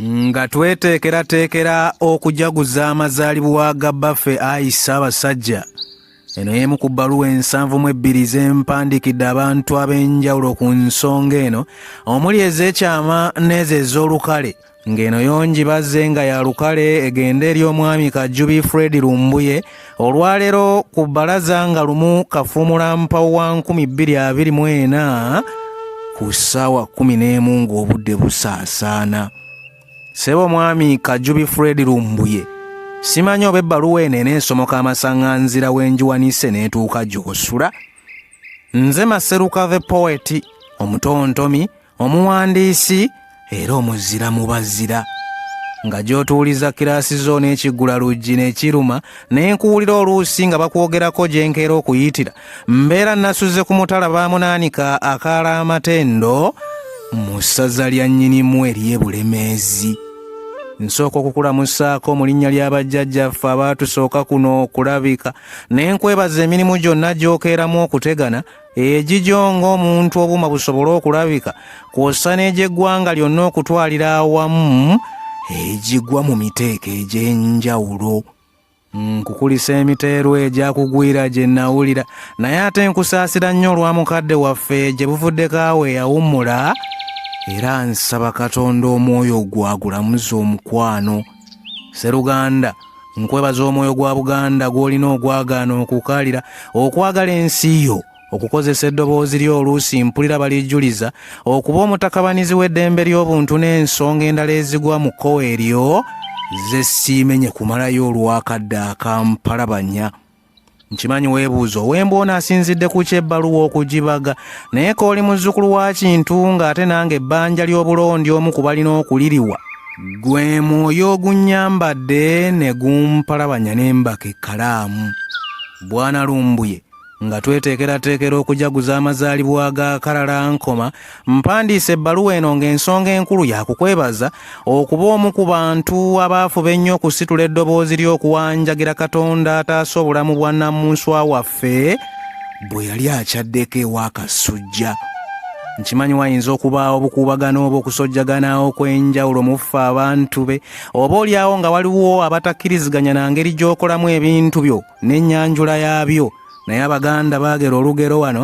nga tweteekerateekera okujaguza amazaalibwa ga bbaffe ayi ssaabasajja eno y'emu ku bbaluwa ensanvu mu ebbiri z'empandiikidde abantu ab'enjawulo ku nsonga eno omuli ez'ekyama n'ezo ez'olukale ng'eno yongi bazze nga ya lukale egende eri omwami kajjubi fred lumbuye olwaleero ku bbalaza nga lumu kafuumula mpawo wa 224 ku ssaawa 11 ng'obudde busaasaana sebo mwami kajubi fred lumbuye simanyi oba ebbaluwa eno enensomoka amasaŋanzira w'enjiwanise n'etuuka gy'osula nze maseruka the poeti omutontomi omuwandiisi era omuzira mu bazira nga gy'otuuliza kiraasi zo n'ekiggula luggi n'ekiruma ne nkuwulira oluusi nga bakwogerako gye nkeera okuyitira mbeera nasuze ku mutala baamunaanika akaala amatendo mu ssaza lya nnyinimu ery'e bulemeezi nsooka okukulamusaako mu linnya lya bajjajjaffe abaatusooka kuno okulabika ne nkwebaza emirimu gyonna gy'okeeramu okutegana egigyo ng'omuntu obuuma busobole okulabika kwossa n'egy'eggwanga lyonna okutwalira awamu egigwa mu miteeko egy'enjawulo nkukulisa emiteerwa egyakugwira gye nawulira naye ate nkusaasira nnyo olwa mukadde waffe gye buvuddeko awo eyawummula era nsaba katonda omwoyo gwagulamuza omukwano seruganda nkwebaza omwoyo gwa buganda gw'olina ogwagaana okukaalira okwagala ensi yo okukozesa eddoboozi lyo oluusi mpulira balijjuliza okuba omutakabanizi w'eddembe ly'obuntu n'ensonga endala ezigwa mu kkowa eryo ze siimenye kumalayo olwakadde akampalabanya nkimanyi weebuuza owemba ono asinzidde ku kyebbaluwa okugibaga naye kooli muzzukulu wa kintu ng'ate nange ebbanja ly'obulondi omu ku balina okuliriwa gwe mwoyo ogunnyambadde ne gumpalabanya n'embaka ekkalaamu bwana lumbuye nga tweteekerateekera okujaguza amazaalibwa ga kalalankoma Mpandiise ebbaluwa eno ng'ensonga enkulu ya kukwebaza okuba omu ku bantu abaafuba ennyo okusitula eddoboozi ly'okuwanjagira Katonda ataasa obulamu bwa nnamunswa waffe bwe yali akyaddeko ewa Kasujja. nkimanyi wayinza okubaawo obukuubagano oba okusojjagana okw'enjawulo mu ffe abantu be oba olyawo nga waliwo abatakkiriziganya na ngeri gy'okolamu ebintu byo n'ennyanjula yaabyo naye abaganda baagera olugero wano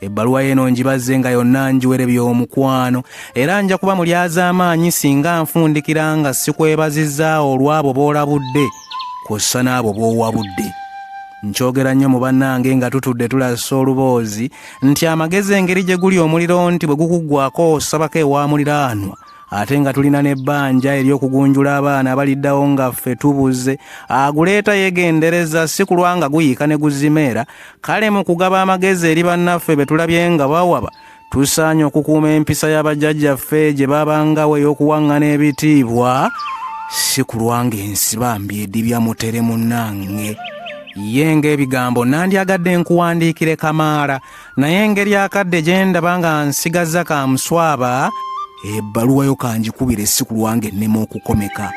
ebbaluwa eno ngibazze nga yonna njiwere by'omukwano era nja kuba mulyazaamaanyi singa nfundikira nga sikwebazizza olw'abo b'olabudde kw'ossa n'abo b'owabudde nkyogera nnyo mu bannange nga tutudde tulasa oluboozi nti amagezi engeri gye guli omuliro nti bwe gukuggwako osabako ewamuliraanwa ate nga tulina n'ebbanja ery'okugunjula abaana abaliddawo nga ffe tubuze aguleeta yegendereza si kulwa nga guyiika ne guzimeera kale mu kugaba amagezi eri bannaffe be tulabye nga bawaba tusaanye okukuuma empisa y'abajjajjaffe gye babangawo ey'okuwaŋŋana ebitiibwa si kulwa ng'ensi bambi edibya mutere munnange ye ng'ebigambo nandyagadde nkuwandiikire kamaala naye engeri akadde gye ndaba nga nsigazza ka muswaba ebbaluwa yo kangikubira essi ku lwange ennema okukomeka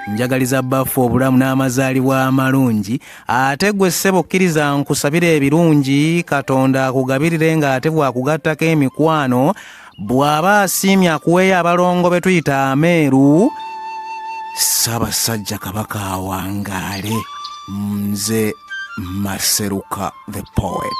njagaliza baffe obulamu n'amazaalibwa amalungi ate gwe ssebo kkiriza nkusabira ebirungi katonda akugabirire ng'ate bwakugattako emikwano bw'aba asiimye akuweeyo abalongo be tuyita ameeru ssaabasajja kabaka awangaale nze maseruka the poet